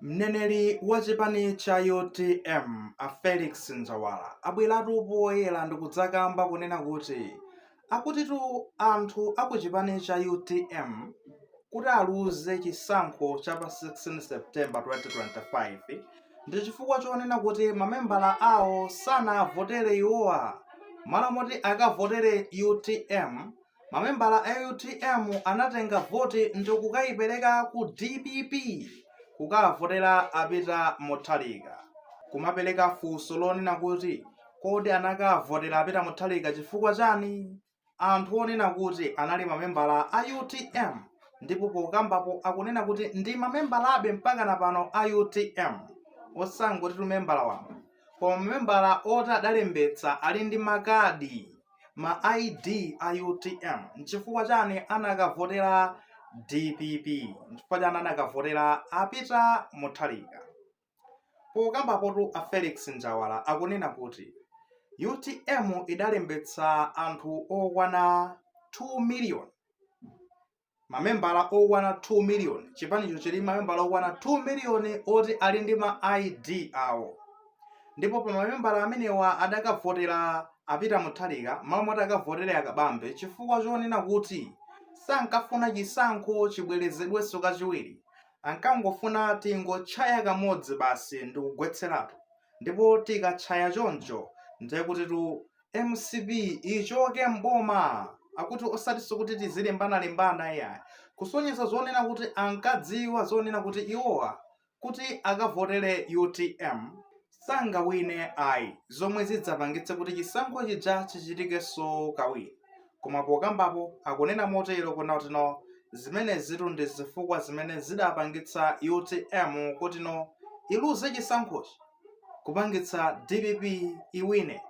Mneneri wa chipani cha utm a Felix Njawala abweratu poyera ndikudzakamba kunena kuti akutitu anthu a ku chipani cha utm kuti aluze chisankho cha pa 16 September 2025 ndi chifukwa chonena kuti mamembala awo sanavotere iwowa malo moti akavotere utm mamembala a utm anatenga voti ndikukayipereka ku dpp kukavotera a Peter Mutharika kumapereka funso lonena kuti kodi anakavotera a Peter Mutharika chifukwa chani anthu onena kuti anali mamembala a utm ndipo pokambapo akunena kuti ndi mamembalabe mpaka na pano a utm osangoti timamembala wamba koma mamembala oti adalembetsa ali ndi makadi ma id a utm nchifukwa chani anakavotera dpp nchifukwa chani anakavotera a Peter Mutharika pokambapotu a felix njawala akunena kuti utm idalembetsa anthu okwana 2 miliyoni mamembala okwana 2 miliyoni chipanicho chili mamembala okwana 2 miliyoni oti ali ndi ma id awo ndipo pa mamembala amenewa adakavotera a Peter Mutharika malo moti akavotere a Kabambe chifukwa chonena kuti sankafuna chisankho chibwerezedwenso kachiwiri ankangofuna tingotchaya kamodzi basi ndikugwetseratu ndipo tikatchaya choncho ndiye kutitu mcp ichoke mboma akuti osatinso kuti tizilimbana-limbana iyayi kusonyeza zonena kuti ankadziwa zonena kuti iwowa kuti akavotere utm sangawine ayi zomwe zidzapangitse kuti chisankho chija chichitikenso kawiri koma pokambapo akunena motero kunena kuti no zimenezitu ndi zifukwa zimene zidapangitsa utm kuti no iluze chisankhochi kupangitsa dpp iwine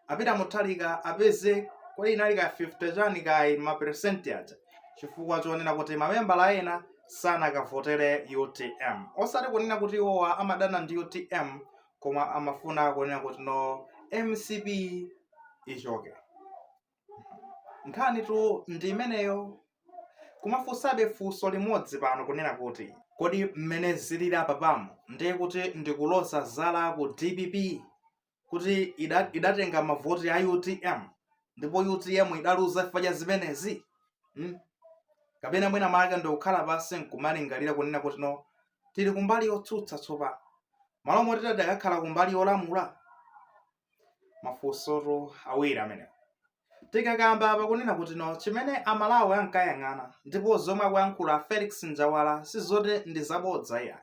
a Peter Mutharika apeze kodi inali ka 50 chani kaya maperesenti aja chifukwa chonena kuti mamembala ena sanakavotere utm osati kunena kuti iwowa amadana ndi utm koma amafuna kunena kuti no mcp ichoke nkhanitu ndi imeneyo kumafunsabe funso limodzi pano kunena kuti kodi mmene zilili apa pano ndiye kuti ndikuloza zala ku dpp kuti ida- idatenga mavoti a utm ndipo utm idaluza chifukwa cha zimenezi hmm? kapena mwina mwake ndikukhala pansi nkumalingalira kunena kuti no tili kumbali yotsutsa tsopano malo moti tadakakhala kumbali yolamula mafunsotu awiri amenewo tikakamba pakunena kuti no chimene amalawi ankayang'ana ndipo zomwe akuyankhula felix njawala sizoti ndi zabodza iyayi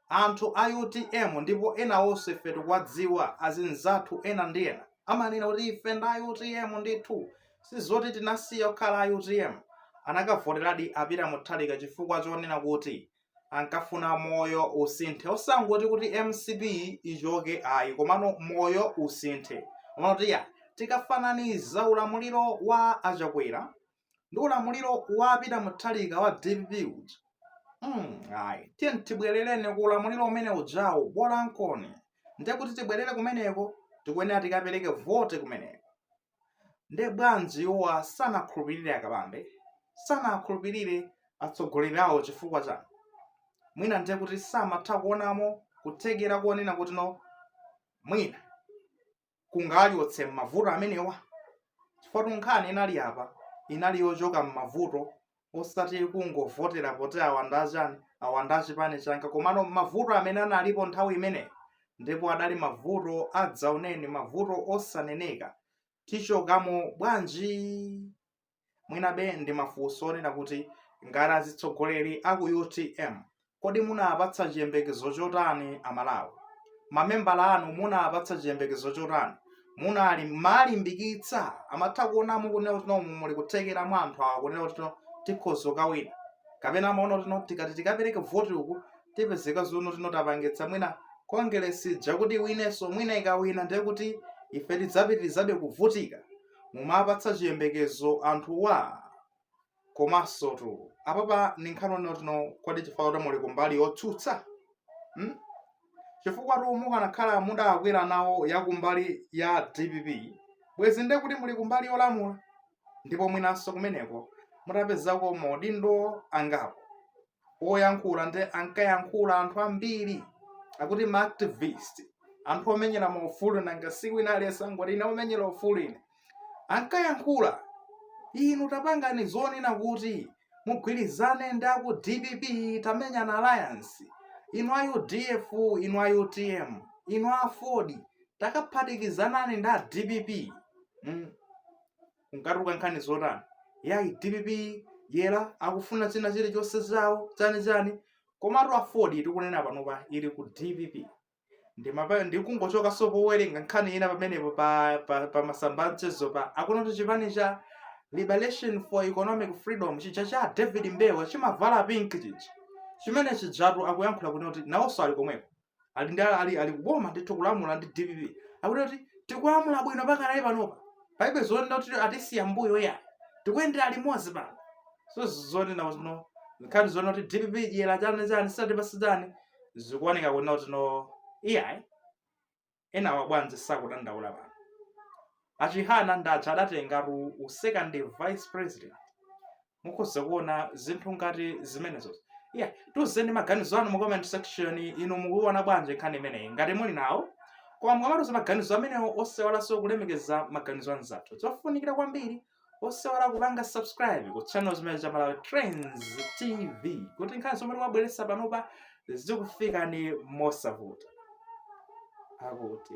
anthu a utm ndipo ena onse ife tikuwadziwa azinzathu ena ndi ena amanena kuti ife ndi a utm ndithu sizoti tinasiya kukhala a utm anakavoteradi a Peter Mutharika chifukwa chonena kuti ankafuna moyo usinthe osangoti kuti mcp ichoke ayi komano moyo usinthe kumanena kuti iya tikafananiza ulamuliro wa achakwera ndi ulamuliro wa peter mutharika wa dpp uja mm, ayi tiyeni tibwerereni ku ulamuliro umene ujawo bolankoni ndiye kuti tibwerere kumeneko tikuyenera tikapereke vote kumeneko nde bwanji iwowa sanakhulupirire a kabambe sanakhulupirire atsogoleri awo chifukwa chani mwina ndiye kuti samatha kuonamo kuthekera kuonena kuti no mwina kungatichotse m'mavuto amenewa chifukwatu nkhani inali apa inali yochoka m'mavuto osati kungovotera poti awa ndi achani awa ndi achipani changa komano mavuto amene analipo nthawi imeneyo ndipo adali mavuto adzaoneni mavuto osaneneka tichokamo bwanji mwinabe ndi mafunso onena kuti ngati atsogoleri aku utm Kodi munawapatsa chiyembekezo chotani Amalawi? Mamembala anu munawapatsa chiyembekezo chotani? Munawalimbikitsa amatha kuonamo kunena kuti no muli kuthekera mwa anthu awa kunena kuti no tikhoza kukawina kapena amaona kuti no tikati tikapereke voti uku tipezeka zonena kuti no tapangitsa mwina kongelesi ija kuti iwinenso mwina ikawina ndiye kuti ife tidzapitirizabe kuvutika mumapatsa chiyembekezo anthuwa komansotu apapa ndi nkhani yonena kuti no kodi chifukwa kuti muli kumbali yotsutsa hmm? chifukwatu mukanakhala mudakwera nawo ya kumbali ya dpp bwezi nde kuti muli kumbali yolamula ndipo mwinanso kumeneko mutapezako maudindo angapo oyankhula ndi ankayankhula anthu ambiri akuti ma activist anthu omenyera maufulu nanga si wina aliyense angoti ine omenyera ufulu ine ankayankhula inu tapangani zonena kuti mugwirizane ndi aku dpp tamenyani alliance inu a udf inu a utm inu a aford takaphatikizanani ndi a dpp mm. kunkatuluka nkhani zotani yayi dpp eti akufuna china chilichonse chawo chani chani komatu aford tikunena panopa ili ku dpp ndimapa ndikungochokanso powerenga nkhani ina pamenepo pa, pa, pa masamba amchezopa akunena kuti chipani cha liberation for economic freedom chija cha david mbewe chimavala pink chija chimene chijatu akuyankhula kuti kuti nawonso ali komweko ali ndi ali ali kuboma ndithu kulamula ndi dpp akuti kuti tikulamula bwino pakali panopa palibe zonena kuti atisiya mbuyo iyayi tikuyendera limodzi pano so zonena zino nkhani zonena kuti dpp dyera chani chani satipatsa chani zikuoneka kunena kuti no iyayi enawa bwanji sakudandaula pano achihana ndi aja adatengatu u second vice president mukhoza kuona zinthu ngati zimenezo yeah tiuzeni maganizo anu mu comment section inu mukuona bwanji nkhani imeneyi ngati muli nawo koma mukamatiuza maganizo amenewo osaiwalanso kulemekeza maganizo anzathu zofunikira kwambiri osaiwala kupanga subscribe ku channel chimene cha Malawi Trends TV kuti nkhani zomwe tikumabweretsa panopa zikufikeni mosavuta akuti